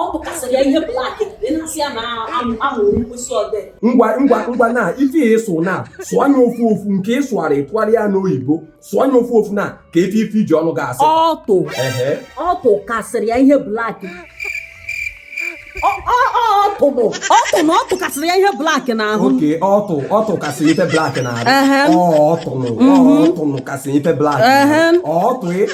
ọ tụkasịrị ya ihe black ị na-asị ya na amụrụ mkpịsị odee ngwa ngwa ngwa na ife ya ịsụ na sụọ anya ofu ofu nke ị sụgharị ịtụgharịa n'oyibo sụọ anya ofu ofu na ka efe ife iji ọnụ ga-asị ọtụ ehe ọtụ kasịrị ya ihe black ọtụ bụ ọtụ na ọtụ kasịrị ya ihe black n'ahụ oke ọtụ ọtụ kasị ife black n'arụ Ehe. ọtụnụ ọtụnụ kasị ife black Ehe. ọtụ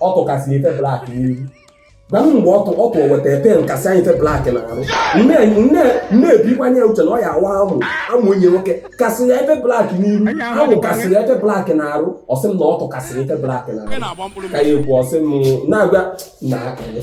ọtụ kasị ya ife black n'iru gwa m mgbe ọtụ ọtụ weta pen kasị anyị ife black n'arụ nne ebikwanye ya uche na ọ ya awa amụ amụ onye nwoke kasị ya ife black n'iru amụ kasị ya ife black n'arụ ọ sị m na ọtụ kasị ya ife black n'arụ ka ya ekwu ọ sị m na-agwa na akịrị